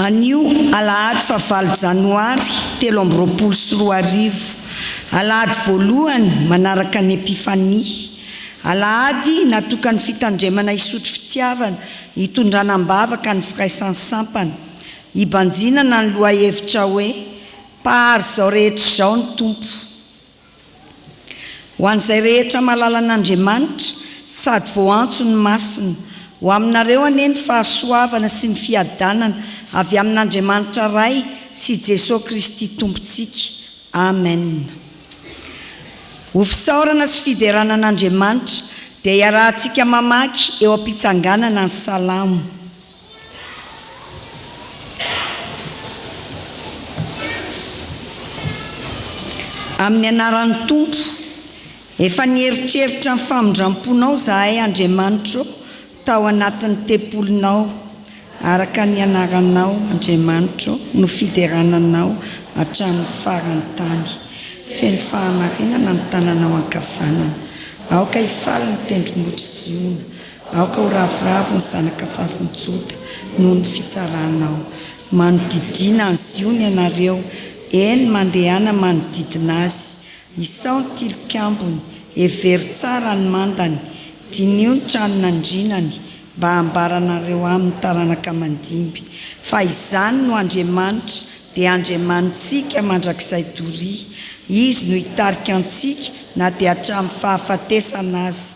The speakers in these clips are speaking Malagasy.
Anio alahady faha valo janoary telo amby roapolo sy roa arivo, alahady voalohany manaraka ny Epifania, alahady natokan'ny fitandremana hisotro fitiavana hitondrana am-bavaka ny Firaisan'ny Sampana, hibanjinana ny lohahevitra hoe, Mpahary izao rehetra izao ny Tompo. Ho an'izay rehetra malala an'Andriamanitra sady voaantso ny masina, ho aminareo anie ny fahasoavana sy ny fiadanana avy amin'Andriamanitra Ray sy Jesoa Kristy Tompontsika. Amen. Ho fisaorana sy fiderana an'Andriamanitra dia iarahantsika mamaky eo am-pitsanganana ny Salamo. Amin'ny anaran'ny Tompo, efa nieritreritra ny famindram-ponao izahay, Andriamanitro, tao anatin'ny tempolinao, araka ny anaranao, Andriamanitro, no fiderana anao hatramin'ny faran'ny tany. Feno fahamarinana ny tananao ankavanana. Aoka hifaly ny tendrombohitry Ziona. Aoka ho ravoravo ny zanakavavin'i Joda noho ny fitsaranao. Manodidina an'i Ziona ianareo, eny, mandehana manodidina azy. Isao ny tilikambony, hevero tsara ny mandany, diniho ny tranon'andrianany, mba hambaranareo amin'ny taranaka mandimby, fa izany no Andriamanitra, dia Andriamanitsika mandrakizay doria. Izy no hitarika antsika na dia hatramin'ny fahafatesana aza.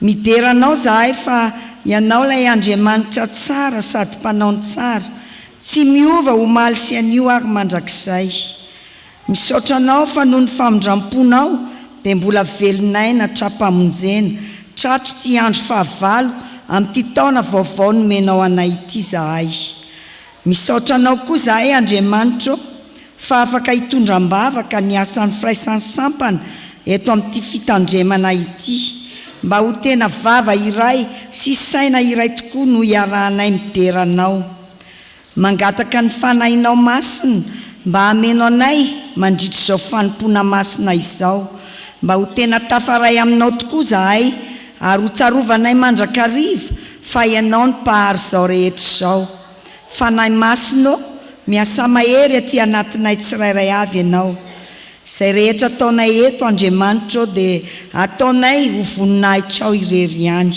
Midera anao zahay fa ianao lay Andriamanitra tsara sady mpanao ny tsara, tsy miova omaly sy anio ary mandrakizay. Misaotra anao fa noho ny famindramponao dia mbola velon'aina hatrampamonjena, tratry ity andro fahavalo amin'ity taona vaovao nomenao anay ity zahay. Misaotra anao koa zahay Andriamanitra ô fa afaka hitondra ambavaka ny asan'ny firaisan'ny sampana eto amin'ity fitandremana ity. Mba ho tena vava iray sy saina iray tokoa no iarahanay midera anao. Mangataka ny Fanahinao Masina mba hameno anay mandritra izao fanompoana masina izao. Mba ho tena tafaray aminao tokoa zahay ary ho tsarovanay mandrakariva fa Ianao ny Mpahary izao rehetra izao. Fanahy Masina ô, miasà mahery aty anatinay tsirairay avy Ianao. Izay rehetra ataonay eto, Andriamanitra ô, dia ataonay ho voninahitrao irery ihany.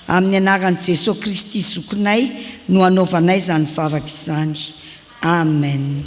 Amin'ny anaran'i Jesoa Kristy Zokinay no anaovanay izany vavaka izany. Amen.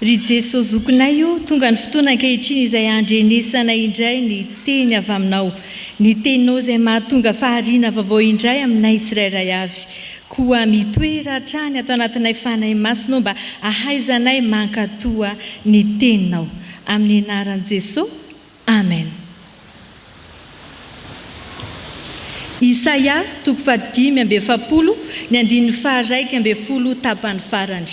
Ry Jeso Zokinay o, tonga ny fotoana ankehitriny izay handrenesanay indray ny Teny avy Aminao, ny Teninao izay mahatonga fahariana vaovao indray aminay tsirairay avy. Koa mitoera hatrany ato anatinay Fanahy Masinao mba hahaizanay mankatoa ny Teninao. Amin'ny Anaran'i Jeso. Amen. Isaia toko fahadimy amby efapolo, ny andininy faharaika ambin'ny folo tapany farany.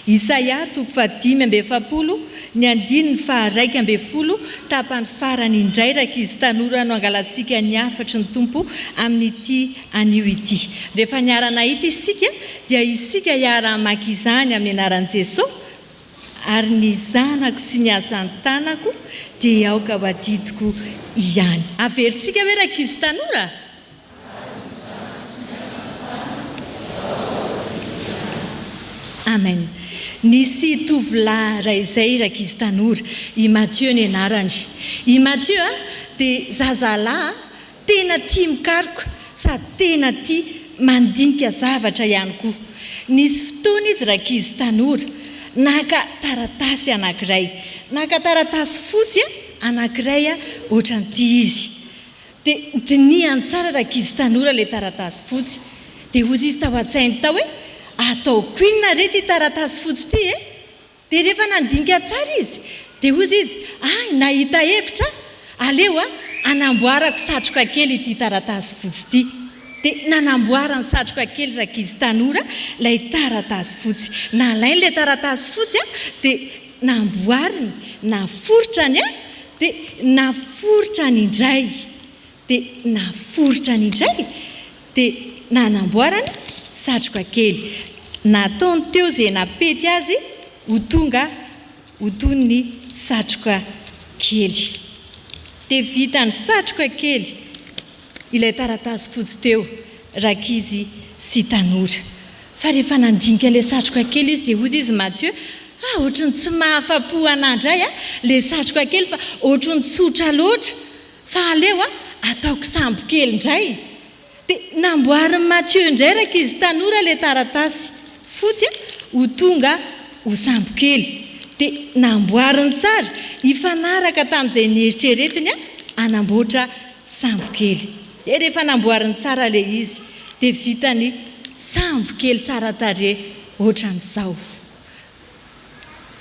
Isaia toko fahadimy amby efapolo, ny andininy faharaika ambin'ny folo tapany farany indray rankizy tanora no hangalantsika ny hafatry ny Tompo amin'ity anio ity. Rehefa niara-nahita isika dia isika hiara-hamaky izany amin'ny anaran'i Jesoa. Ary ny zanako sy ny hazan-tanako dia aoka ho adidiko ihany. Averintsika ve rankizy tanora? Amen. Nisy tovolahy iray izay rankizy tanora, i Mathieu ny anarany. I Mathieu dia zazalahy Tena tia mikaroka sady tena tia mandinika zavatra ihany koa. Nisy fotoana izy rankizy tanora naka taratasy anankiray, naka taratasy fotsy anankiray ohatran'ity izy. Dia dinihany tsara rankizy tanora ilay taratasy fotsy. Dia hozy izy tao an-tsainy tao hoe, ataoko inona re ity taratasy fotsy ity e? Dia rehefa nandinika tsara izy, dia hozy izy, Hay, nahita hevitra aho! Aleo aho hanamboarako satroka kely ity taratasy fotsy ity. Dia nanamboarany satroka kely rankizy tanora ilay taratasy fotsy. Nalainy ilay taratasy fotsy, dia namboariny, naforitrany, dia naforitrany indray. Dia naforitra ny indray dia nanamboarany satroka kely. Nataony teo izay nampety azy ho tonga ho toy ny satroka kely. Dia vitany satroka kely ilay taratasy fotsy teo, rankizy sy tanora. Fa rehefa nandinika ilay satroka kely izy dia hozy izy Mathieu, ah ohatry ny tsy mahafa-po anah indray ilay satroka kely fa ohatry ny tsotra loatra Fa aleo a, ataoko sambo kely indray. Dia namboarin'i Mathieu indray rankizy tanora ilay taratasy fotsy a, ho tonga ho sambo kely. Dia namboariny tsara, hifanaraka tamin'izay nieritreretiny a, hanamboatra sambo kely. Dia rehefa namboariny tsara ilay izy, dia vitany sambo kely tsara tarehy ohatran'izao.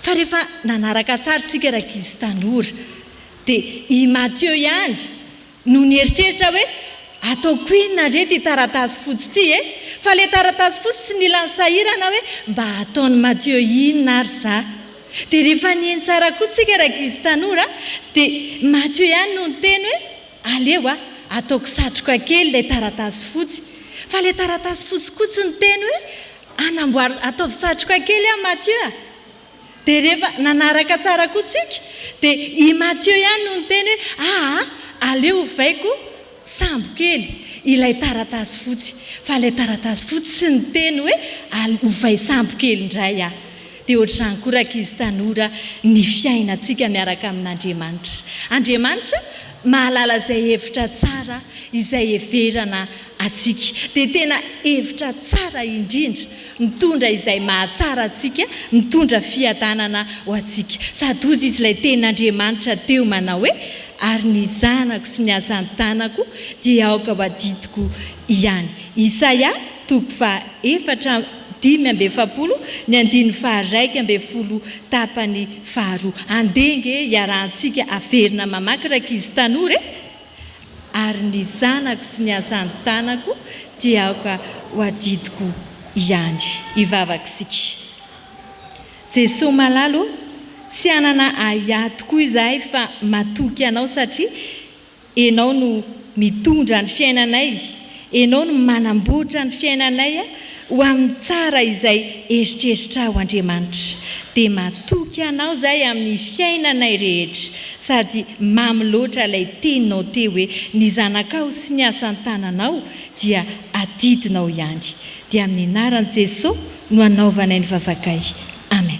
Fa rehefa nanaraka tsara isika rankizy tanora dia i Mathieu ihany no nieritreritra hoe ataoko inona re ity taratasy fotsy ity e? Fa ilay taratasy fotsy tsy nila nisahirana hoe mba hataon'i Mathieu inona ary izaho. Dia rehefa nihaino tsara koa isika rankizy tanora dia Mathieu ihany no niteny hoe aleo aho ataoko satroka kely ilay taratasy fotsy. Fa ilay taratasy fotsy koa tsy niteny hoe Anamboary, ataovy satroka kely an Mathieu a! Dia rehefa nanaraka tsara koa tsika dia i Mathieu ihany no niteny hoe aa aleo hovaiko sambo kely ilay taratasy fotsy fa ilay taratasy fotsy tsy niteny hoe al hovay sambo kely indray aho. Dia ohatr'izany koa rankizy tanora ny fiainantsika miaraka amin'Andriamanitra. Andriamanitra mahalala izay hevitra tsara izay heverana antsika dia tena hevitra tsara indrindra mitondra izay mahatsara antsika mitondra fiadanana ho antsika sady hozy izy ilay teny Andriamanitra teo manao hoe ary ny zanako sy ny asan-tanako dia aoka ho adidiko ihany Isaia toko faha efatra amby dimy amby efapolo ny andininy faha iraika ambin'ny folo tapany faharoa andeha nge iarahantsika averina mamaky rankizy tanora e ary ny zanako sy ny asan-tanako dia aoka ho adidiko ihany. Hivavaka isika. Jesoa Malala o, tsy hanana ahiahy tokoa izahay fa matoky Anao satria Ianao no mitondra ny fiainanay, Enao no manamboatra ny fiainanay ho amin'ny tsara izay eritreritrao Andriamanitra dia matoky anao zahay amin'ny fiainanay rehetra sady mamy loatra ilay teninao teo hoe ny zanakao sy ny asan-tananao dia adidinao ihany dia amin'ny anaran'i Jeso no anaovanay ny vavakay Amen.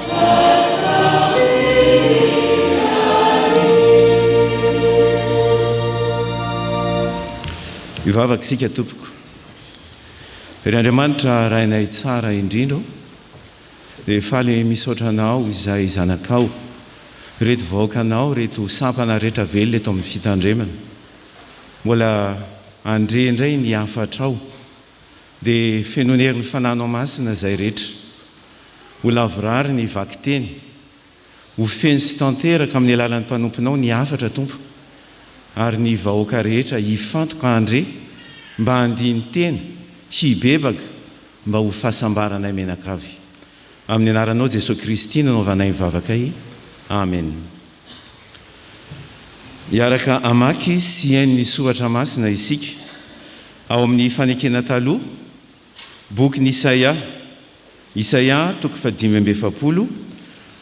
Hivavaka isika tompoko. Ry Andriamanitra Rainay tsara indrindra ô, dia faly misaotra Anao izay zanakao, ireto vahoakanao, ireto sampana rehetra velona eto amin'ny fitandremana. Mbola handre indray ny hafatrao. dia fenoin'ny herin'ny Fanahy Anao Masina izay rehetra. Ho lavorary ny vakiteny. Ho feno sy tanteraka amin'ny alalan'ny mpanomponao ny hafatra, Tompo, ary ny vahoaka rehetra hifantoka handre mba handini-tena, hibebaka mba ho fahasambaranay menakavy. Amin'ny anaranao Jesoa Kristy no anaovanay ny vavakay. Amena. Hiaraka hamaky sy hihaino ny soratra masina isika ao amin'ny Fanekena Taloha, bokin'i Isaia, Isaia toko fahadimy amby efapolo,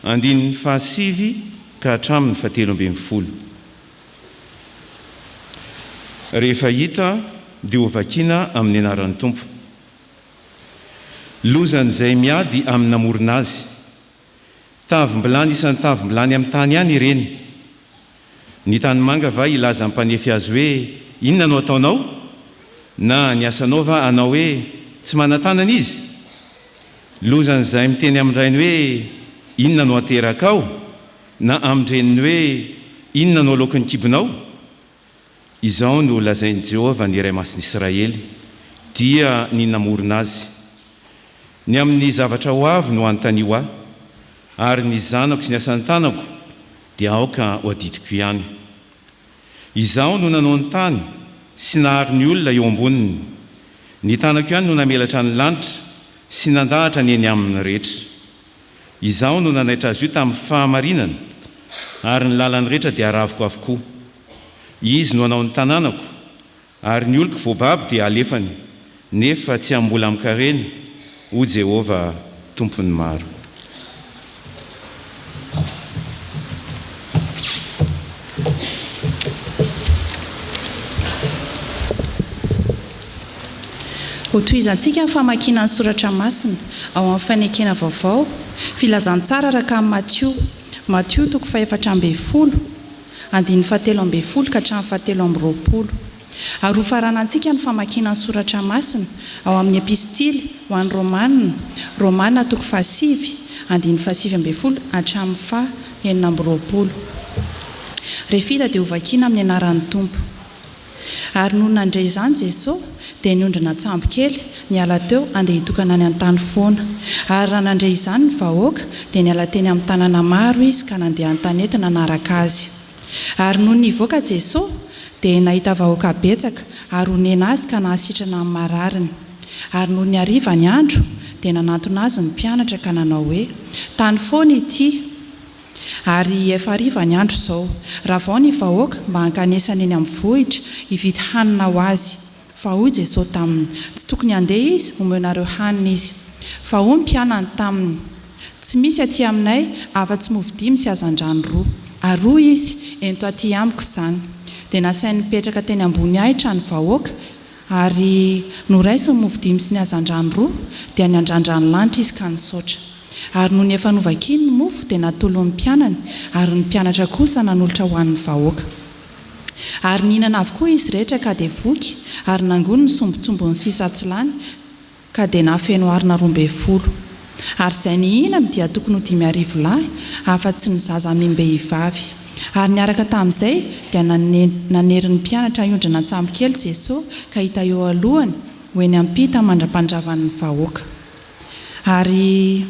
andininy fahasivy ka hatramin'ny fahatelo ambin'ny folo. Rehefa hita dia hovakiana amin'ny anaran'ny Tompo. Lozan'izay miady amin'ny namorona azy. Tavim-bilany isan'ny tavim-bilany amin'ny tany ihany ireny. Ny tanimanga va hilaza ny mpanefy azy hoe inona no ataonao? Na ny asanao va hanao hoe tsy manan-tanana izy? Lozan'izay miteny amin-drainy hoe inona no aterakao? Na amin-dreniny hoe inona no aloaky ny kibonao? Izao no lazain'i Jehovah ny Iray Masin'Israely, dia ny namorona azy, Ny amin'ny zavatra ho avy no anontanio ahy, ary ny zanako sy ny asan'ny tanako dia aoka ho adidiko ihany. Izaho no nanao ny tany sy nahary ny olona eo amboniny, ny tanako ihany no namelatra ny lanitra sy nandahatra ny eny aminy rehetra. Izaho no nanaitra azy io tamin'ny fahamarinana, ary ny lalany rehetra dia aravoko avokoa. Izy no hanao ny tanànako, ary ny oloko voababo dia halefany, nefa tsy hambola amin-karena, hoy Jehovah Tompon'ny maro. Hotohizantsika ny famakiana ny soratra masina ao amin'ny Fanekena Vaovao, Filazantsara araka an'i Matio, Matio toko fahefatra ambin'ny folo, andininy fahatelo ambin'ny folo ka hatramin'ny fahatelo amby roapolo. Ary hofaranantsika ny famakiana ny soratra masina ao amin'ny Epistily ho an'ny Romana, Romana toko fahasivy, andininy fahasivy ambin'ny folo hatramin'ny faha enina amby roapolo. Refila dia hovakiana amin'ny anaran'ny Tompo. Ary nony nandre izany Jesosy, dia niondrina an-tsambo kely, niala teo, handeha hitokana any an-tany foana. Ary raha nandre izany ny vahoaka, dia niala teny amin'ny tanàna maro Izy ka nandeha an-tanety nanaraka Azy. Ary nony nivoaka Jesosy, dia nahita vahoaka betsaka, ary honena Azy ka nahasitrana ny marariny. Ary nony hariva ny andro, dia nanantona Azy ny mpianatra ka nanao hoe, Tany foana ity. Ary efa hariva ny andro izao. Ravao ny vahoaka mba hankanesany eny amin'ny vohitra hividy hanina ho azy. Fa hoy Jesoa taminy, Tsy tokony handeha izy homenareo hanina izy. Fa hoy ny mpianany taminy, Tsy misy aty aminay afa-tsy mofo dimy sy hazandrano roa. Ary hoy izy, Ento aty amiko izany. Dia nasainy nipetraka teny ambony ahitra ny vahoaka. Ary noraisiny ny mofo dimy sy ny hazandrano roa, dia niandrandra ny lanitra izy ka nisaotra. Ary nony efa novakiny ny mofo, dia natolony ny mpianany, ary ny mpianatra kosa nanolotra ho an' ny vahoaka. Ary nihinana avokoa izy rehetra ka dia voky, ary nangony ny sombintsombiny sisa tsy lany, ka dia nahafeno arina roa ambin'ny folo. Ary izay nihinany dia tokony ho dimy arivo lahy, afa-tsy ny zaza amim-behivavy. Ary niaraka tamin'izay dia nanery ny mpianatra hiondrina an-tsambokely Jesosy ka hita eo alohany ho eny am-pita mandra-pandravan'ny vahoaka. Ary.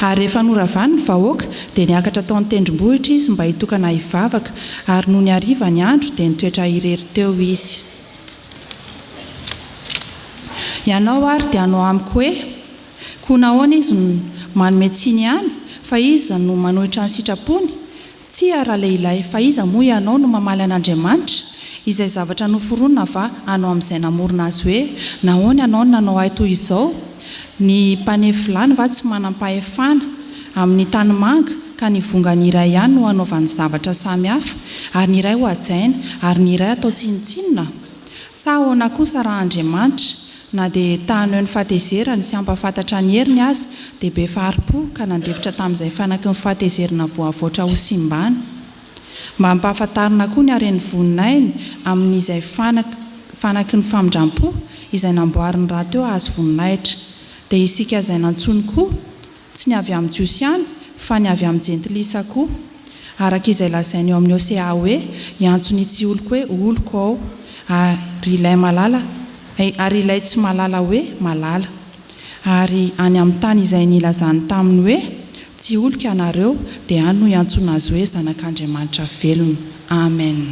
Ary rehefa noravany ny vahoaka, dia niakatra tao an-tendrombohitra izy mba hitokana hivavaka, ary nony hariva ny andro, dia nitoetra irery teo izy. Ianao àry dia hanao amiko hoe, Koa nahoana izy no manome tsiny ihany, fa iza no manohitra ny sitrapony? Tsia, ralehilahy, fa iza moa ianao no mamaly an'Andriamanitra? Izay zavatra noforonina va anao amin'izay namorona azy hoe, Nahoana ianao no nanao ahy toy izao? Ny mpanevilany va tsy manam-pahefana amin'ny tanimanga, ka ny vongany iray ihany no anaovany zavatra samy hafa, ary ny iray hohajaina, ary ny iray atao tsinontsinona? Sa ahoana kosa raha Andriamanitra, Na dia ta haneho ny fahatezerany sy hampahafantatra ny heriny aza, dia be fahari-po ka nandefitra tamin'izay fanaky ny fahatezerana voavoatra ho simbana. Mba hampahafantarina koa ny haren'ny voninahiny amin'izay fanaky fanaky ny famindram-po izay namboariny rahateo hahazo voninahitra, dia isika izay nantsoiny koa tsy ny avy amin'ny Jiosy ihany fa ny avy amin'ny Jentilisa koa, araka izay lazainy ao amin'ny Hosea hoe, Hiantso ny tsy oloko hoe oloko Aho, ary ilay malala, ary ilay tsy malala hoe malala. Ary any amin'ny tany izay nilazany taminy hoe, Tsy oloko ianareo, dia any no hiantsoana azy hoe zanak'Andriamanitra velona. Amen.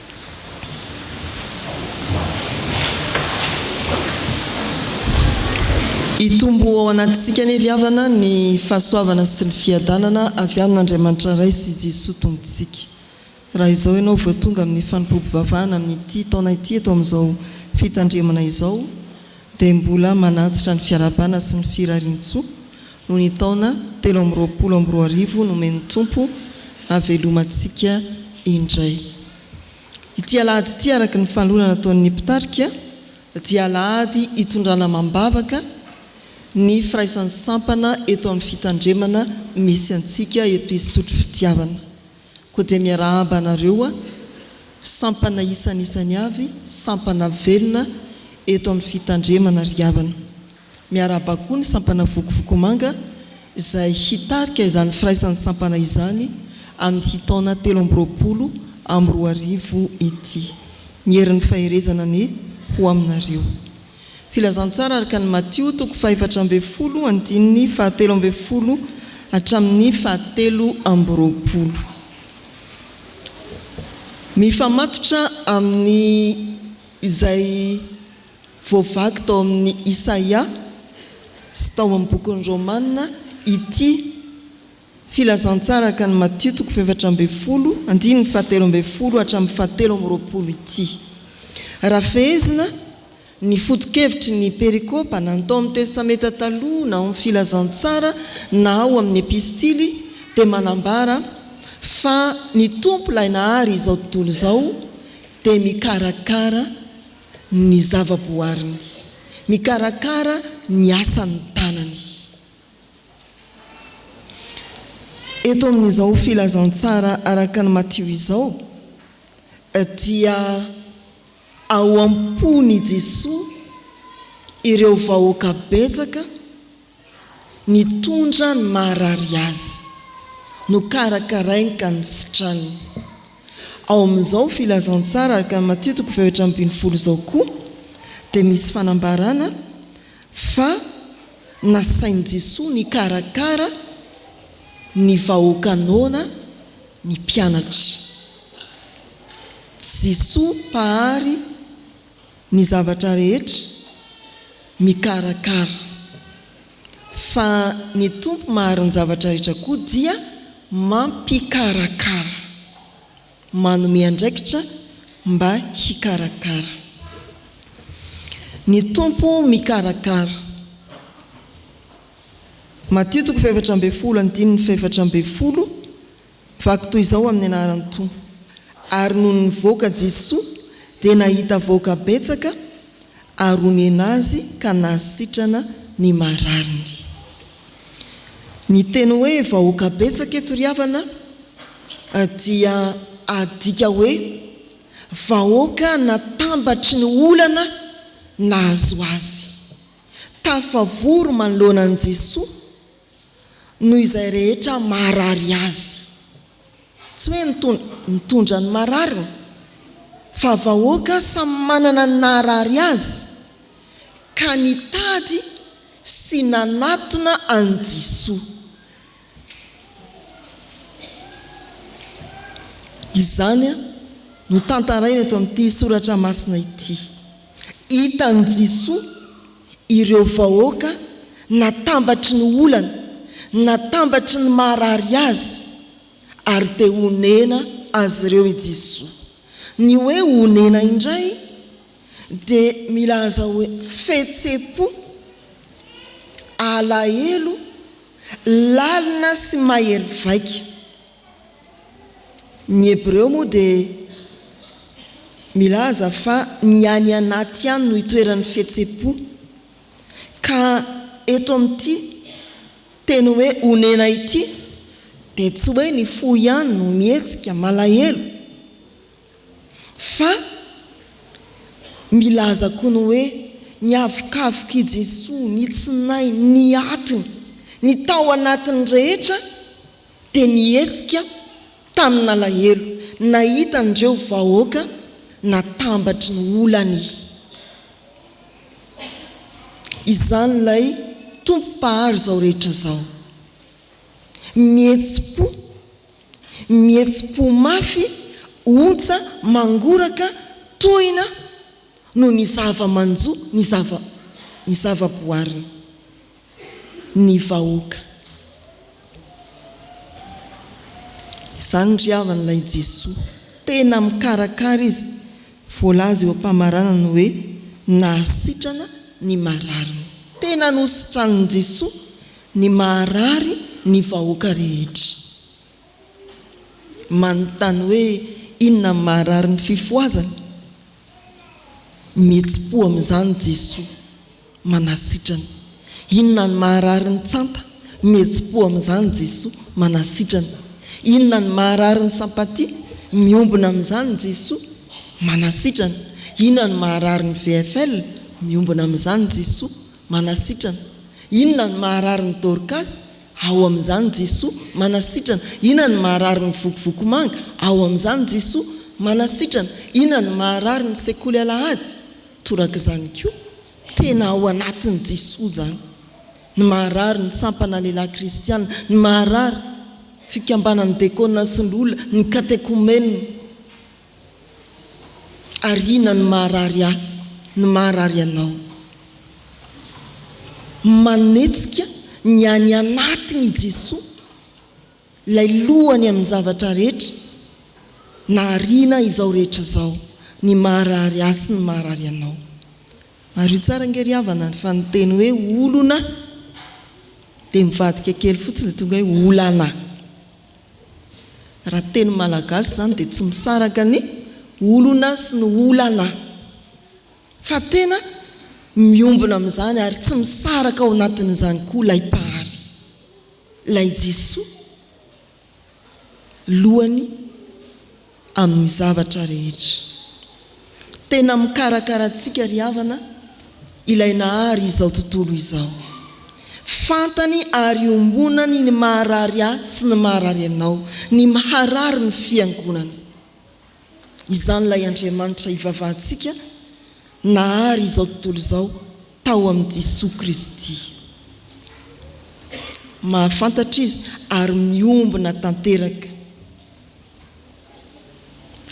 Hitombo ao anatintsika anie ry havana ny fahasoavana sy ny fiadanana avy amin'Andriamanitra Ray sy Jesoa Tompontsika. Raha izao ianao vao tonga amin'ny fanompoam-pivavahana amin'ity taona ity eto amin'izao fitandremana izao, dia mbola manantitra ny fiarahabana sy ny firarian-tsoa noho ny taona telo amby roapolo amby roa arivo nomen'ny Tompo havelomantsika indray. Ity Alahady ity araka ny fanolorana nataon'ny mpitarika dia Alahady hitondrana amam-bavaka ny firaisan'ny sampana eto amin'ny fitandremana misy antsika eto Isotry Fitiavana. Koa dia miarahaba anareo a! Sampana isanisany avy, sampana velona eto amin'ny fitandremana ry havana. Miarahaba koa ny sampana Vokovokomanga izay hitarika izany firaisan'ny sampana izany amin'ity taona telo amby roapolo amby roa arivo ity. Ny herin'ny faherezana anie ho aminareo. Filazantsara araka an'i Matio toko fahefatra ambin'ny folo andininy fahatelo ambin'ny folo hatramin'ny fahatelo amby roapolo. Mifamatotra amin'ny izay voavaky tao amin'i Isaia sy tao amin'ny bokin'ny Romana ity. Filazantsara ka ny Matio toko fahefatra ambin'ny folo andininy fahatelo ambin'ny folo hatramin'ny fahatelo amby roapolo ity. Raha fehezina, ny foto-kevitry ny perikopa na ny tao amin'ny Testamenta Taloha na ao amin'ny Filazantsara na ao amin'ny Epistily dia manambara fa ny Tompo Ilay nahary izao tontolo izao dia mikarakara ny zava-boariny, mikarakara ny asan'ny tanany. Eto amin'izao filazantsara araka ny Matio izao dia ao am-pon' i Jesoa ireo vahoaka betsaka nitondra ny maharary Azy, nokarakarainy ka nositraniny. Ao amin'izao filazantsara araka ny Matio toko fahetra ambin'ny folo izao koa dia misy fanambarana, Fa nasain'i Jesoa nikarakara ny vahoaka noana ny mpianatra. Jesoa Mpahary ny zavatra rehetra, mikarakara. Fa ny Tompo Mahary ny zavatra rehetra koa dia mampikarakara. manome andraikitra mba hikarakara. Ny Tompo mikarakara. Matio toko fahefatra ambin'ny folo andininy fahefatra ambin'ny folo, Vaky toy izao amin'ny anaran'ny Tompo. Ary nony nivoaka Jesoa dia nahita vahoaka betsaka ary omena azy ka nahasitrana ny marariny. Ny teny hoe vahoaka betsaka eto ry havana dia adika hoe vahoaka natambatry ny olana nahazo azy. Tafavory manoloana an'i Jesoa Noho izay rehetra maharary azy. Tsy hoe ny tondra mitondra ny marariny, fa vahoaka samy manana ny naharary azy, ka nitady sy nanatona an'i Jesoa. Izany no tantaraina eto amin'ity soratra masina ity. Hitan'i Jisoa ireo vahoaka natambatry ny olana, natambatry ny maharary azy, ary te honena azy ireo i Jisoa. Ny hoe honena indray dia milaza hoe fihetsem-po, alahelo, lalina sy mahery vaika. Ny Hebreo moa dia milaza fa ny any anaty ihany no itoeran'ny fihetsem-po, ka eto amin'ity teny hoe onena ity dia tsy hoe ny fo ihany no mihetsika, malahelo, fa milaza koa ny hoe ny havokavok'i Jesoa, ny tsinay, ny atiny, ny tao anatiny rehetra dia nihetsika tamin'alahelo nahita an'ireo vahoaka natambatry ny olany izany ilay Tompo Mpahary izao rehetra izao. Mihetsi-po, mihetsi-po mafy, ontsa, mangoraka, tohina noho ny zava-manjo, ny zava-boariny. ny vahoaka. Izany ry havana ilay Jesoa. Tena mikarakara Izy. Voalaza eo am-pamaranana hoe nahasitrana ny marariny. Tena nositranin'i Jesoa ny maharary ny vahoaka rehetra. Manontany hoe inona ny maharary ny fifohazana? Mihetsi-po amin'izany Jesoa, manasitrana. Inona ny maharary ny tsanta? Mihetsi-po amin'izany Jesoa, manasitrana. Inona ny maharary ny sampatia? Miombona amin'izany Jesoa, manasitrana. Inona ny maharary ny VFL? Miombona amin'izany Jesoa, manasitrana. Inona ny maharary ny Dorcas? Ao amin'izany Jesoa, manasitrana, inona no maharary ny Vokovokomanga? Ao amin'izany Jesoa, manasitrana, inona no maharary ny Sekoly Alahady? Torak'izany koa, tena ao anatin'i Jesoa izany, ny maharary ny Sampana Lehilahy Kristiana, ny maharary Fikambanan'ny Dekona sy ny Loholona, ny Katekomenina. Ary inona no maharary ahy no maharary anao? Manetsika ny any anatiny i Jesoa, ilay lohany amin'ny zavatra rehetra, nahariana izao rehetra izao, ny maharary ahy sy ny maharary anao. Mariho tsara ange ry havana fa ny teny hoe olona dia mivadika kely fotsiny dia tonga hoe olana. Raha teny malagasy izany dia tsy misaraka ny olona sy ny olana fa tena miombona amin'izany ary tsy misaraka ao anatin'izany koa ilay Mpahary, ilay Jisoa, lohan'ny. amin'ny zavatra rehetra. Tena mikarakara antsika ry havana Ilay nahary izao tontolo izao. Fantany ary iombonany ny maharary ahy sy ny maharary anao, ny maharary ny Fiangonana. Izany Ilay Andriamanitra ivavahantsika nahary izao tontolo izao tao amin'i Jesoa Kristy. Mahafantatra Izy ary miombona tanteraka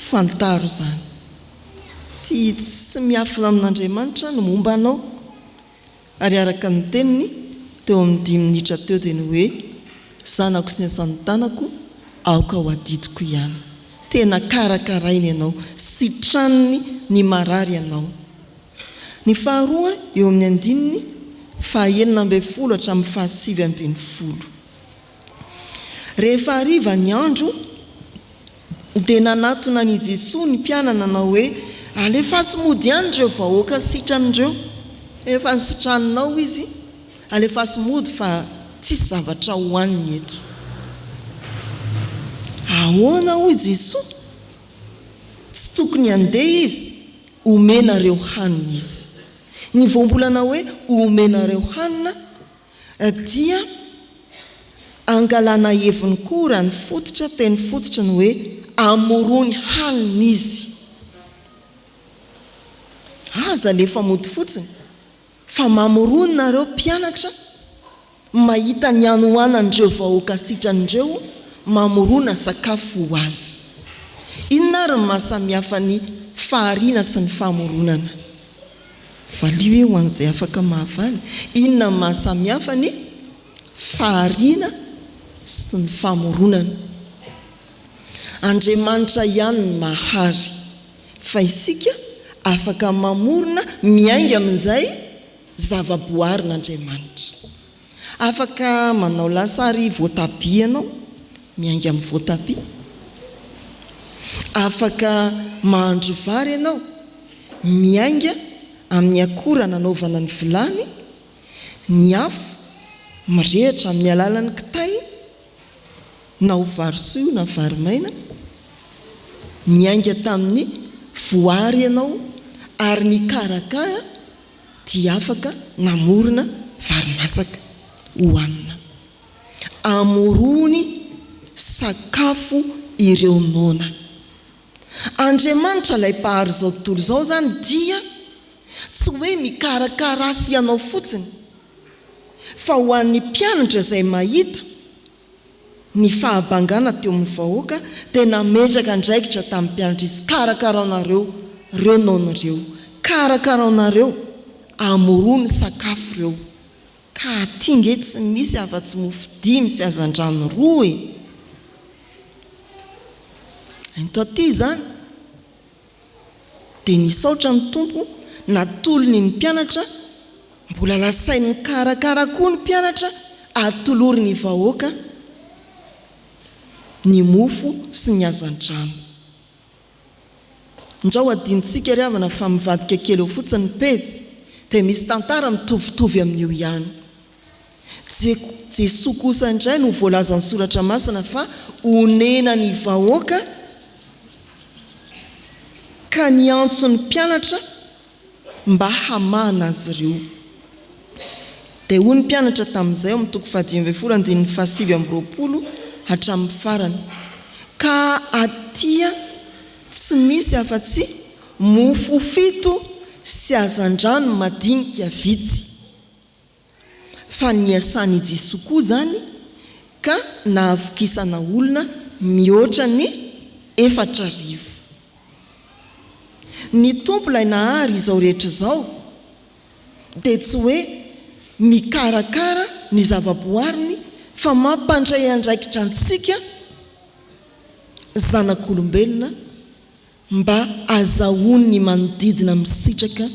Fantaro izany. Tsy hitsy sy miafina amin'Andriamanitra ny momba anao. Ary araka ny teniny, teo amin'ny dimy minitra teo dia ny hoe, Zanako sy niasantanako, aoka ho adidiko ihany. Tena karakarainy ianao, sitraniny ny marary ianao. Ny faharoa eo amin'ny andininy fahaenina ambin'ny folo hatramin'ny fahasivy ambin'ny folo. Rehefa hariva ny andro, dia nanatona an' i Jesoa ny mpianany nanao hoe, Alefaso mody any ireo vahoaka sitran'ireo. Efa nisitraninao izy, alefaso mody fa tsisy zavatra hohaniny eto. Ahoana hoy Jesoa? Tsy tokony handeha izy, homenareo hanina izy. Ny voambolana hoe homenareo hanina Dia angalana heviny koa raha ny fototra teny fototra ny hoe amorony hanina izy. Aza alefa mody fotsiny fa mamorony nareo mpianatra mahita ny hanohanan'ireo vahoaka sitran'ireo mamorona sakafo ho azy. Inona ary ny maha samihafa ny fahariana sy ny famoronana? Valio e ho an'izay afaka mahavaly, inona ny maha samihafa ny fahariana sy ny famoronana? Andriamanitra ihany no mahary, fa isika afaka mamorona miainga amin'izay zava-boaharin'Andriamanitra. Afaka manao lasary voatabia ianao, miainga amin'ny voatabia. Afaka mahandro vary ianao, miainga amin'ny akora nanaovana ny vilany, ny afo, mirehitra amin'ny alalan'ny kitay, na ho vary soa na vary maina. Niainga tamin'ny voary ianao ary nikarakara. dia afaka namorona vary masaka hohanina. Amorony sakafo ireo noana. Andriamanitra ilay Mpahary izao tontolo izao izany dia tsy hoe mikarakara ahy sy ianao fotsiny, fa ho an'ny mpianatra izay mahita Ny fahabangana teo amin'ny vahoaka dia nametraka andraikitra tamin'ny mpianatrisy karakaraonareo reo nony reo, karakaraonareo, amorony sakafo reo, ka aty nge tsy misy afa tsy mofo dimy sy hazandrano roa e! Ento aty izany! Dia nisaotra ny Tompo natolony ny mpianatra, mbola lasainy nikarakara koa ny mpianatra atolory ny vahoaka ny mofo sy ny hazandrano. Ndrao hadinontsika ry havana fa mivadika kely eo fotsiny ny pejy dia misy tantara mitovitovy amin'io ihany. Jesoa kosa indray no voalazan'ny Soratra Masina fa honena ny vahoaka ka niantso ny mpianatra mba hamahana azy ireo. Dia hoy ny mpianatra tamin'izay ao amin'ny toko fahadimy ambin'ny folo andininy fahasivy amby roapolo hatramin'ny farany, Ka atia tsy misy afa-tsy mofo fito sy hazandrano madinika vitsy. Fa niasan' i Jesoa koa izany ka nahavokisana olona mihoatra ny efatra arivo. Ny Tompo ilay nahary izao rehetra izao dia tsy hoe mikarakara ny zavaboariny fa mampandray andraikitra antsika zanak' olombelona Mba azahoany ny manodidina misitraka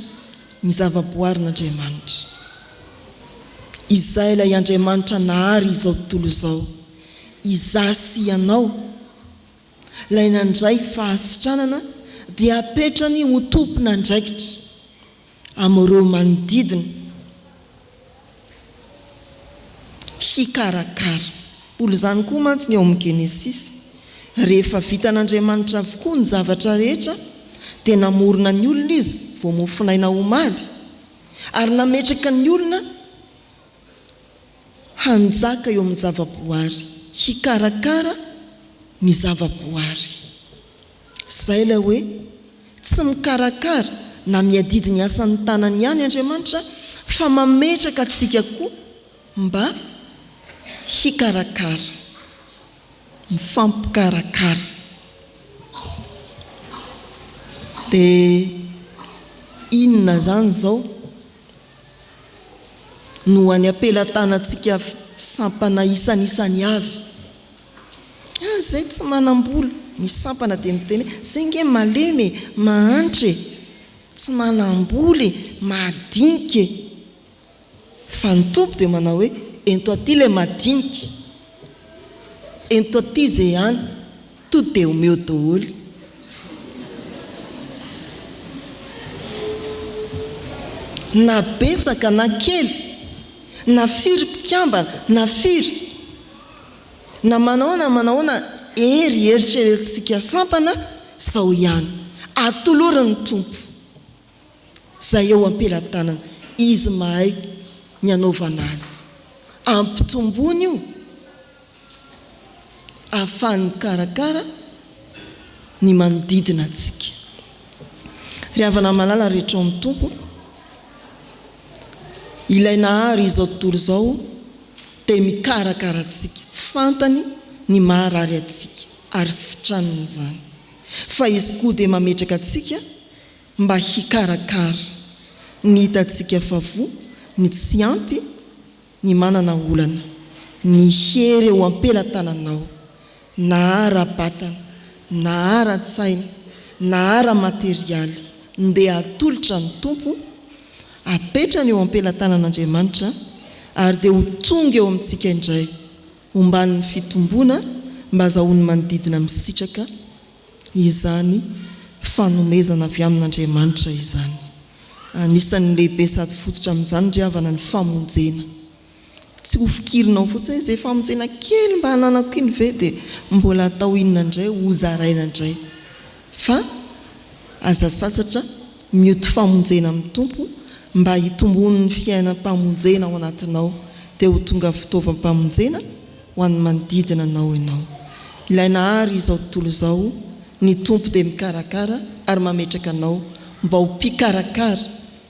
ny zavaboarin'Andriamanitra. Izay ilay Andriamanitra nahary izao tontolo izao, izaho sy ianao, ilay nandray fahasitranana dia apetrany ho tompon'andraikitra amin'ireo manodidina hikarakara. Mbola izany koa mantsy ny ao amin'ny Genesisy. Rehefa vitan'Andriamanitra avokoa ny zavatra rehetra, dia namorona ny olona Izy vao mofonaina omaly, ary nametraka ny olona hanjaka eo amin'ny zavaboary, hikarakara ny zavaboary. Izay ilay hoe, tsy mikarakara na miadidy ny asan'ny tanany ihany Andriamanitra fa mametraka antsika koa mba hikarakara. Mifampikarakara. Dia inona izany izao no any am-pelatanantsika sampana isanisany avy Ary zay tsy manambola ny sampana dia miteny hoe zay nge malemy e, mahantra e, tsy manambola e, madinika e. Fa ny Tompo dia manao hoe ento aty le madinika, ento aty ze any, to dia omeo doholy. Na betsaka na kely, na firy mpikambana, na firy. Na manao na manaona hery eritreretintsika sampana zao ihany. Atolory ny Tompo zay eo ampelatanana. Izy mahay ny anaovana azy. Ampitomboiny io ahafahany mikarakara ny manodidina antsika. Ry havana malala rehetra ao amin'ny Tompo, ilay nahary izao tontolo izao, dia mikarakara antsika, fantany ny maharary antsika ary sitraniny izany, fa Izy koa dia mametraka antsika mba hikarakara ny hitantsika fa voa, ny tsy ampy, ny manana olana, ny hery eo am-pelatananao, na ara-batana, na ara-tsaina, na ara-materialy, ndeha atolotra ny Tompo, apetrany eo am-pelatanan'Andriamanitra, ary dia ho tonga eo amintsika indray, omban'ny fitomboana, mba hazahoany manodidina misitraka izany fanomezana avy amin'Andriamanitra izany. Anisan'ny lehibe sady fototra amin'izany ry havana ny famonjena. Tsy ho fikirinao fotsiny izay famonjena kely mba ananako iny ve dia mbola atao inona indray ho zaraina indray fa aza sasatra mioty famonjena amin'ny Tompo mba hitomboan'ny fiainam-pamonjena ao anatinao dia ho tonga fitaovam-pamonjena ho an'ny manodidina anao ianao. Ilay Nahary izao tontolo izao, ny Tompo dia mikarakara ary mametraka anao mba ho mpikarakara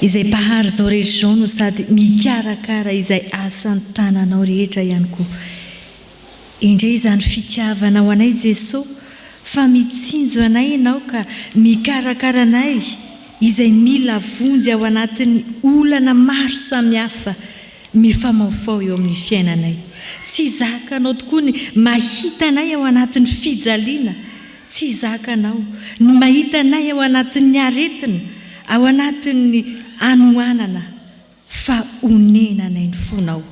Izay Mpahary izao région no sady mikarakara izay asan-tananao rehetra ihany koa. Endrey izany fitiavanao anay Jeso fa mitsinjo anay Ianao ka mikarakara anay izay mila vonjy ao anatin'ny olana maro samihafa mifamaofao eo amin'ny fiainanay. Tsy zakanao tokoa ny mahita anay ao anatin'ny fijaliana Tsy zakanao ny mahita anay ao anatin'ny aretina, ao anatin'ny hanoanana, fa onenanay ny fonao.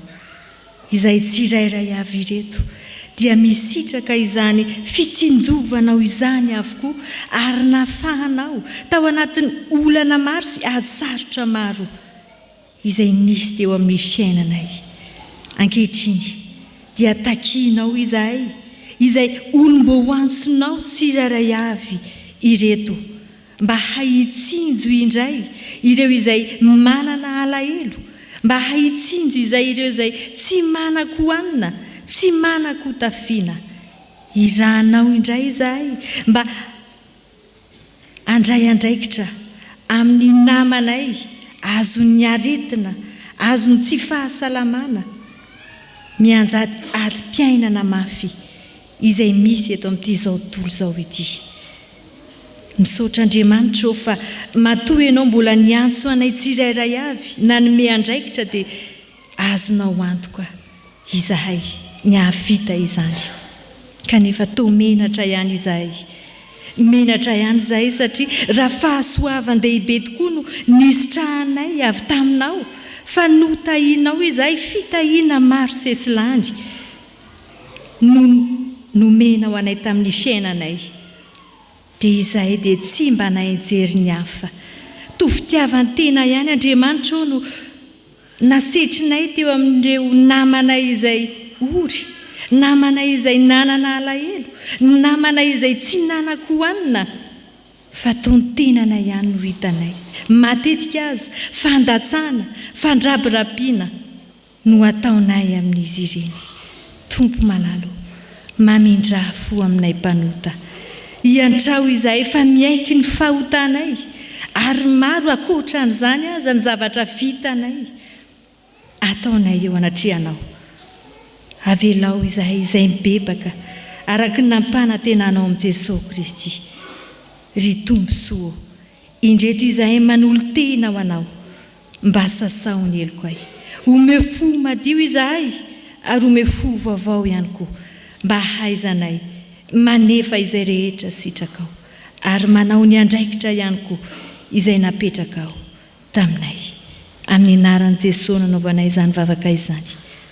Izay tsirairay avy ireto dia misitraka izany fitsinjovanao izany avokoa ary nafahanao tao anatin'ny olana maro sy ady sarotra maro izay nisy teo amin'ny fiainanay. Ankehitriny, dia takianao izahay, izay olom-boantsinao tsirairay avy ireto, mba hahitsinjo indray ireo izay manana alahelo, mba hahitsinjo izay ireo izay tsy manan-kohanina, tsy manan-kotafiana. Irahanao indray izahay mba Handray andraikitra amin'ny namanay azon'ny aretina, azon'ny tsy fahasalamana mianjady adim-piainana mafy izay misy eto amin'ity izao tontolo izao ity. Misaotra Andriamanitra ô fa matoa Ianao mbola niantso anay tsirairay avy, nanome andraikitra dia Azonao antoka izahay ny hahavita izany. Kanefa toa menatra ihany izahay. Menatra ihany izahay satria raha fahasoavan-dehibe tokoa no nisitrahanay avy taminao fa notahianao izahay fitahiana maro sesilany no nomenao anay tamin'ny fiainanay dia izahay dia tsy mba naha-hijery ny hafa. Toa fitiavan-tena ihany Andriamanitra ô no Nasetrinay teo amin'ireo namanay izay ory, namanay izay nanana alahelo, namanay izay tsy nanan-kohanina, fa tontenana ihany no hitanay. Matetika aza, fandatsana, fandrabirabiana no ataonay amin'izy ireny. Tompo malala o, mamindrà fo aminay mpanota. Iantrao izahay fa miaiky ny fahotanay, ary maro ankoatran'izany aza ny zavatra vitanay, ataonay eo anatrehanao. Avelao izahay izay mibebaka araka ny nampanantenanao amin'i Jesoa Kristy. Ry Tompo soa ô, indreto izahay manolo-tena ho anao, Mba sasaho ny heloko ahy. Omeo fo madio izahay ary omeo fo vaovao ihany koa mba hahaizanay manefa izay rehetra sitrakao ary manao ny andraikitra ihany koa izay napetrakao taminay. Amin'ny anaran'i Jesoa nanaovanay izany vavaka izany.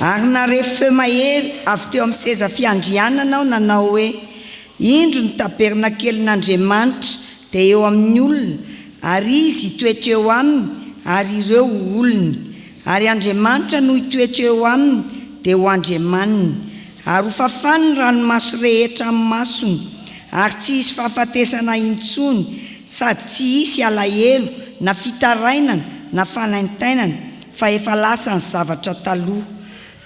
Ary nare feo mahery avy teo amin'ny seza fiandrianana aho nanao hoe, Indro ny tabernakelin'Andriamanitra dia eo amin'ny olona, ary Izy hitoetra eo aminy, ary ireo ho olony. Ary Andriamanitra no hitoetra eo aminy, dia ho Andriamaniny. Ary ho fafany ny ranomaso rehetra amin'ny masony, ary tsy hisy fahafatesana intsony, sady tsy hisy alahelo, na fitarainana, na fanaintainana, fa efa lasa ny zavatra taloha.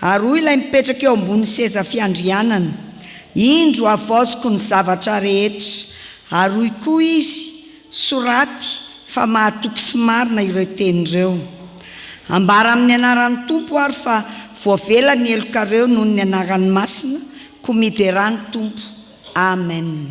Ary hoy ilay mipetraka eo ambonin'ny seza fiandrianana, Indro, havaoziko ny zavatra rehetra. Ary hoy koa izy, Soraty fa mahatoky sy marina ireo teny ireo. Ambara amin'ny anaran'ny Tompo ary fa voavela ny helokareo noho ny anarany masina, koa miderà ny Tompo. Amen.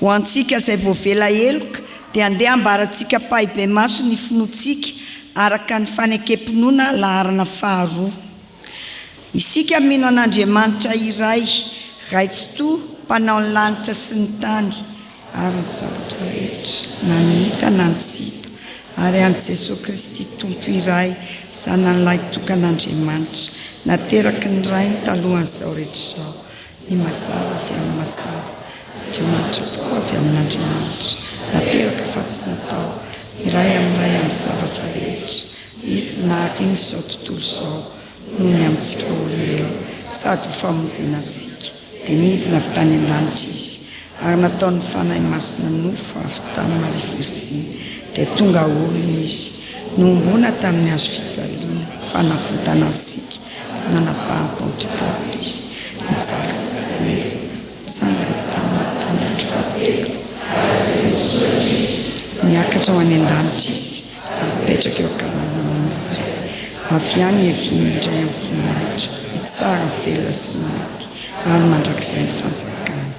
Ho antsika izay voavela heloka dia andeha ambarantsika ampahibemaso ny finoantsika araka ny fanekem-pinoana laharana faharoa. Isika mino an'Andriamanitra iray, Ray Tsitoha, Mpanao ny lanitra sy ny tany ary ny zavatra rehetra, na ny hita na ny tsy hita, ary an'i Jesoa Kristy Tompo iray, Zanany lahitokan'Andriamanitra, nateraky ny Rainy talohan'izao rehetra izao. Ny mazava avy amin'ny mazava. Andriamanitra tokoa avy amin'Andriamanitra. Nateraka fa tsy natao. Miray amin'ny Ray amin'ny zavatra rehetra. Izy no nahaliana izao tontolo izao noho ny amintsika olombelona sady ho famonjena antsika. Dia nidina avy tany an-danitra Izy ary nataon'ny Fanahy Masina nofo avy tany Maria Virjiny. Dia tonga olona Izy. Nohomboana tamin'ny Hazo fijaliana, fanavotana antsika. Nanabaha bon du bois aby izy nijaly rehefa nitsangana tamin'ny tamin'ny andro fahatelo. Niakatra ho any an-danitra izy ary nipetraka eo an-kavanan'ny Ray. Avy any ihaviany indray amin'ny voninahitra hitsara ny velona sy ny maty ary mandrakizay ny fanjakany.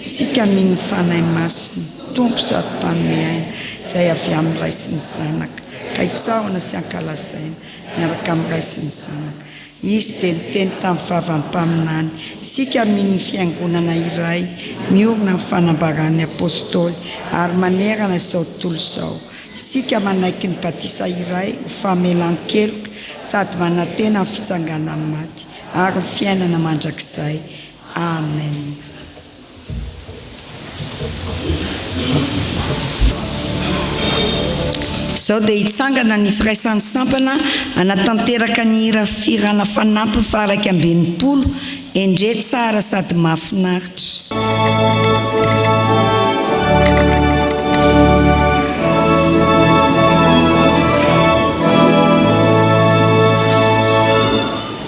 Isika mino ny Fanahy Masina, Tompo sady Mpanome aina, izay avy amin'ny Ray sy ny Zanaka, ka hitsahona sy hankalazaina miaraka amin'ny Ray sy ny Zanaka. Izy dia niteny tamin'ny Vavany Mpaminany, isika amin' ny Fiangonana iray miorina amin'ny fanambaran'ny Apôstôly ary manerana izao tontolo izao. Isika manaiky ny batisa iray ho famelan-keloka sady manantena ny fitsanganan'ny maty ary ny fiainana mandrakizay. Amena. Izao dia hitsangana ny Firaisan'ny Sampana hanatanteraka ny hira Firana Fanampiny faha iraika amby enimpolo, Endrey tsara sady mahafinaritra.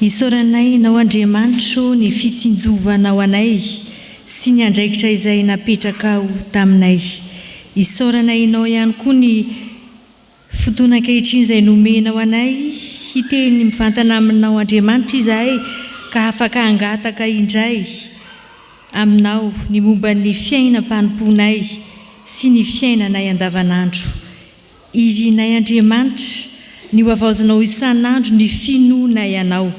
Isaoranay Ianao Andriamanitro ny fitsinjovanao anay sy ny andraikitra izay napetrakao taminay. Isaoranay Ianao ihany koa ny fotoana ankehitriny izay nomenao anay hiteny mivantana aminao Andriamanitra izahay ka afaka hangataka indray Aminao ny momba ny fiainam-panompoanay sy ny fiainanay andavanandro. Irinay Andriamanitra, ny hohavaozinao isan'andro ny finoanay Anao,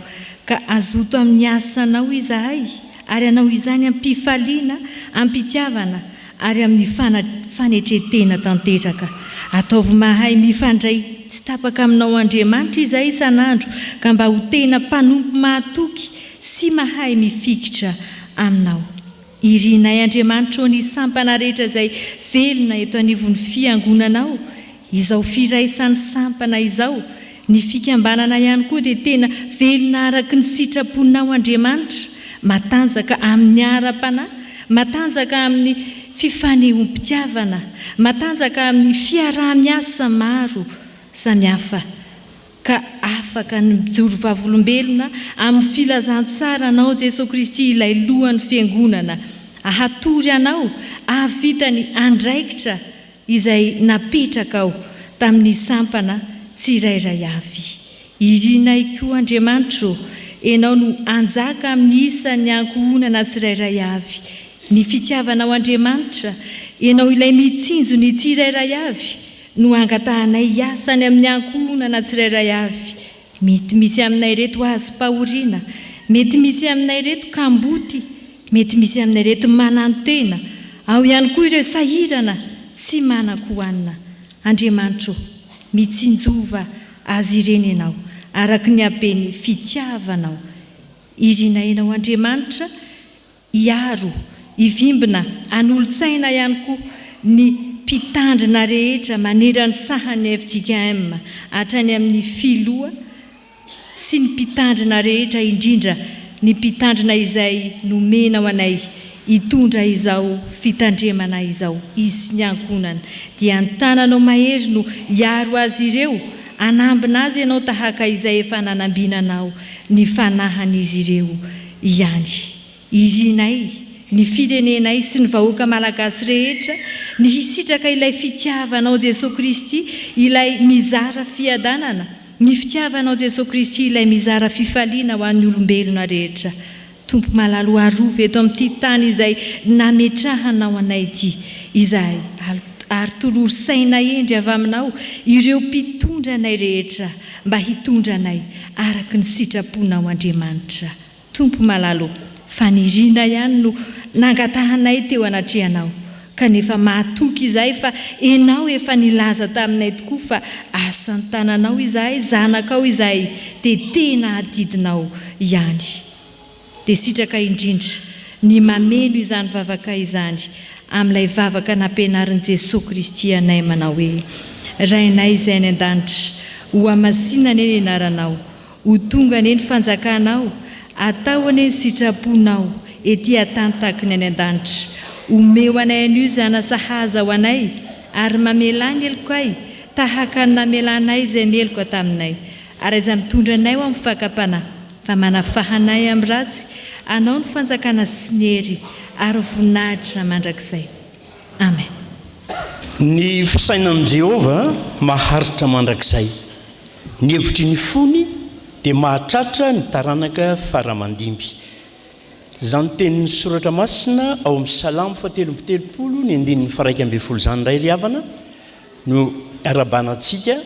ka hazoto amin'ny asanao izahay, ary hanao izany amim-pifaliana, amim-pitiavana, ary amin'ny fana, fanetren-tena tanteraka. Ataovy mahay mifandray tsy tapaka aminao Andriamanitra izahay isan'andro, ka mba ho tena mpanompo mahatoky sy mahay mifikitra Aminao. Irinay Andriamanitra ô ny sampana rehetra izay velona eto anivon'ny fiangonanao izao firaisan'ny sampana izao, ny fikambanana ihany koa dia tena velona araky ny sitraponao Andriamanitra, matanjaka amin'ny ara-panahy, matanjaka amin'ny fifanehoam-pitiavana, matanjaka amin'ny fiaraha-miasa maro samihafa ka afaka ny mijoro vavolombelona amin'ny filazantsara anao Jesoa Kristy ilay lohan'ny Fiangonana ahatory anao ahavita ny andraikitra izay napetrakao tamin'ny sampana tsirairay avy. Irinay koa Andriamanitra ô, Ianao no hanjaka amin'ny isan'ny ankohonana tsirairay avy. Ny fitiavanao Andriamanitra, Ianao ilay mitsinjo ny tsirairay avy, no hangatahanay hiasa any amin'ny ankohonana tsirairay avy, mety misy aminay ireto hazom-pahoriana, mety misy aminay ireto kamboty, mety misy aminay ireto manantena, ao ihany koa ireo sahirana tsy manan-kohanina. Andriamanitra ô, mitsinjova azy ireny Ianao, araka ny haben'ny fitiavanao. Irinay Ianao Andriamanitra. Hiaro, hivimbina, hanolotsaina ihany koa ny Mpitandrina rehetra manerany sahan'ny fjkm, hatrany amin'ny Filoha sy ny Mpitandrina rehetra indrindra ny Mpitandrina izay nomena ho anay hitondra izao Fitandremana izao izy sy ny Ankohonany dia ny tananao mahery no hiaro azy ireo, hanambina azy ianao tahaka izay efa nanambinanao ny fanahan'izy ireo ihany. Irinay, ny firenenay sy ny vahoaka malagasy rehetra ny hisitraka ilay fitiavanao Jesoa Kristy ilay mizara fiadanana, ny fitiavanao Jesoa Kristy ilay mizara fifaliana ho an'ny olombelona rehetra. Tompo malalo arovy eto amin'ity tany izay nametrahanao anay ity izahay ary tolory saina hendry avy aminao ireo mpitondra anay rehetra mba hitondra anay araka ny sitraponao Andriamanitra Tompo malala ô fanirianay ihany no nangatahanay teo anatrehanao kanefa mahatoky izahay fa enao efa nilaza taminay tokoa fa asantananao izahay zanakao izahay dia tena adidinao ihany Dia sitraka indrindra ny mameno izany vavaka izany amin'ilay vavaka nampianarin'i Jesoa Kristy anay manao hoe, Rainay Izay any An-danitra, ho hamasinina anie ny anaranao, ho tonga anie ny fanjakanao, atao anie ny sitraponao ety an-tany tahaka ny any An-danitra. Omeo anay an'io zana sahaza ho anay ary mamelà ny helokay tahaka ny namelanay izay meloka taminay, ary izay mitondra anay ho amin'ny fakam-panahy. Fa manafaha anay amin'ny ratsy Anao ny fanjakana sy ny hery ary ny voninahitra mandrakizay. Amen. Ny fisainan'i Jehovah maharitra mandrakizay. Ny hevitry ny fony dia mahatratra ny taranaka fara aman-dimby. Izany tenin'ny Soratra Masina ao amin'ny Salamo fahatelo amby telopolo ny andininy faraika ambin'ny folo izany indray ry havana no arabahanantsika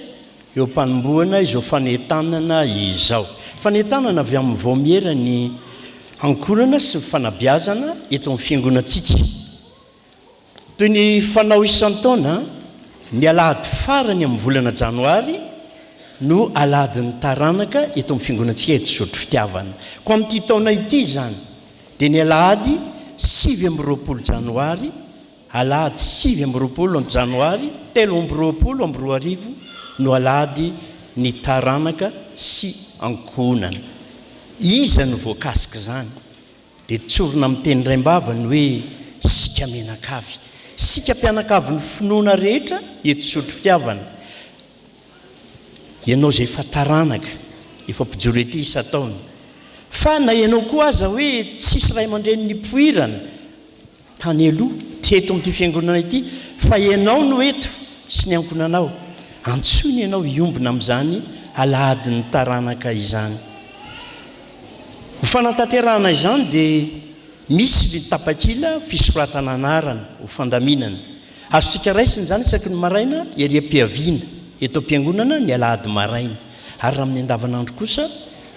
eo am-panombohana izao fanentanana izao. Fanentanana avy amin'ny Vaomiera ny hankorana sy ny fanabeazana eto amin'ny Fiangonantsika. Toy ny fanao isan-taona, ny alahady farany amin'ny volana janoary no Alahadin'ny Taranaka eto amin'ny Fiangonantsika eto Zotry Fitiavana. Koa amin'ity taona ity izany dia ny alahady sivy amby roapolo janoary Alahady sivy amby roapolo Janoary telo amby roapolo amby roa arivo no alahady ny taranaka sy ankohonana. Iza no voakasik'izany? Dia tsorina amin'ny teny raim-bava ny hoe isika mianakavy, isika mpianakavin'ny finoana rehetra eto Sotrofitiavana. Ianao izay efa taranaka, efa mpijoro ety isan-taona. Fa na ianao koa aza hoe tsisy ray aman-dreny nipoirana, tany aloha teto amin'ity fiangonana ity fa ianao no eto sy ny ankonanao, antsoiny ianao hiombona amin'izany alahadin'ny taranaka izany. Ho fanatanterahana izany dia misy ny tapakila fisoratana anarana ho fandaminana. Azontsika raisina izany isaky ny maraina ery am-piaviana eto am-piangonana ny alahady maraina ary raha amin'ny andavanandro kosa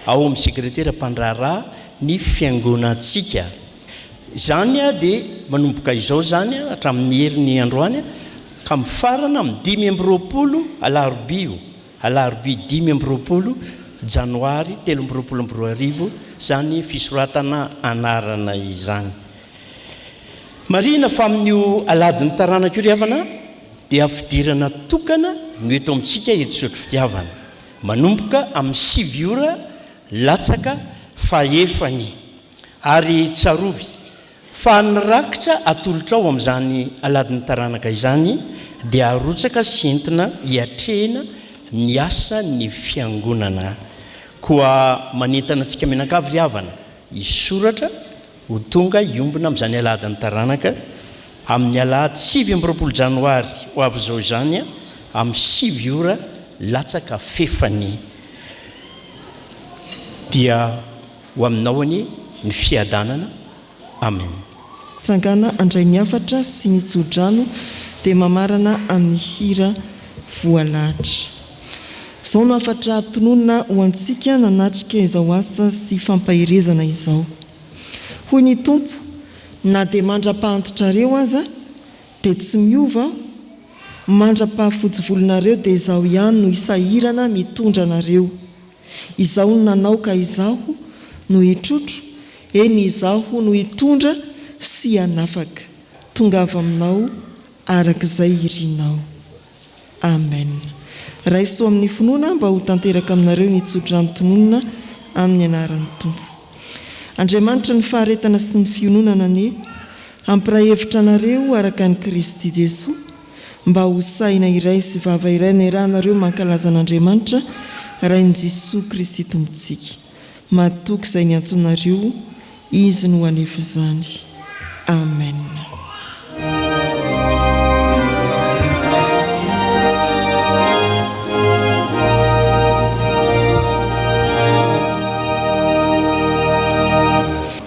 ao amin'ny sekretera mpandraharaha ny fiangonantsika. Izany dia manomboka izao izany hatramin'ny heriny androany ka mifarana amin'ny dimy amby roapolo Alarobia o, Alarobia dimy amby roapolo Janoary telo amby roapolo amby roa arivo izany fisoratana anarana izany. Marihina fa amin'io aladin'ny taranaka io ry havana dia fidirana tokana no eto amintsika eto Sotrofitiavana, manomboka amin'ny sivy ora latsaka fahefany. Ary tsarovy, fa ny rakitra atolotrao amin'izany aladin'ny taranaka izany dia arotsaka sy entina hiatrehina ny asan'ny Fiangonana. Koa manentana antsika mianakavy ry havana, hisoratra ho tonga hiombona amin'izany aladin'ny taranaka, amin'ny alahady sivy amby roapolo janoary ho avy izao izany, amin'ny sivy ora latsaka fefany, dia. Ho aminao anie ny fiadanana Amen. Tsangana andray ny hafatra sy ny tsodrano dia mamarana amin'ny hira voalahatra. Izao no hafatra tononina ho antsika nanatrika izao asa sy fampaherezana izao. Hoy ny Tompo, Na dia mandra-pahantitrareo aza, dia tsy miova Aho, mandra-pahafotsivolonareo dia Izaho ihany no hisahirana mitondra anareo. Izaho no nanao ka Izaho no hitrotro, eny Izaho no hitondra sy hanafaka. Tongava aminao araka izay irinao. Amen. Raiso amin'ny finoana mba ho tanteraka aminareo ny tsodrano tononina amin'ny anaran'ny Tompo. Andriamanitra ny faharetana sy ny fiononana anie hampiray hevitra anareo araka an'i Kristy Jesoa, Mba ho sahina iray sy vava iray ny eranareo mankalaza an'Andriamanitra Rain'i Jesoa Kristy Tompontsika. Matoky izay niantsonareo Izy no hanefa izany. Amen.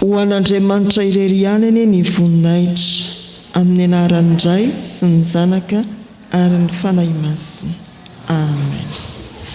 Ho an'Andriamanitra irery ihany anie ny voninahitra, amin'ny anaran'ny Ray sy ny Zanaka ary ny Fanahy Masina. Amen.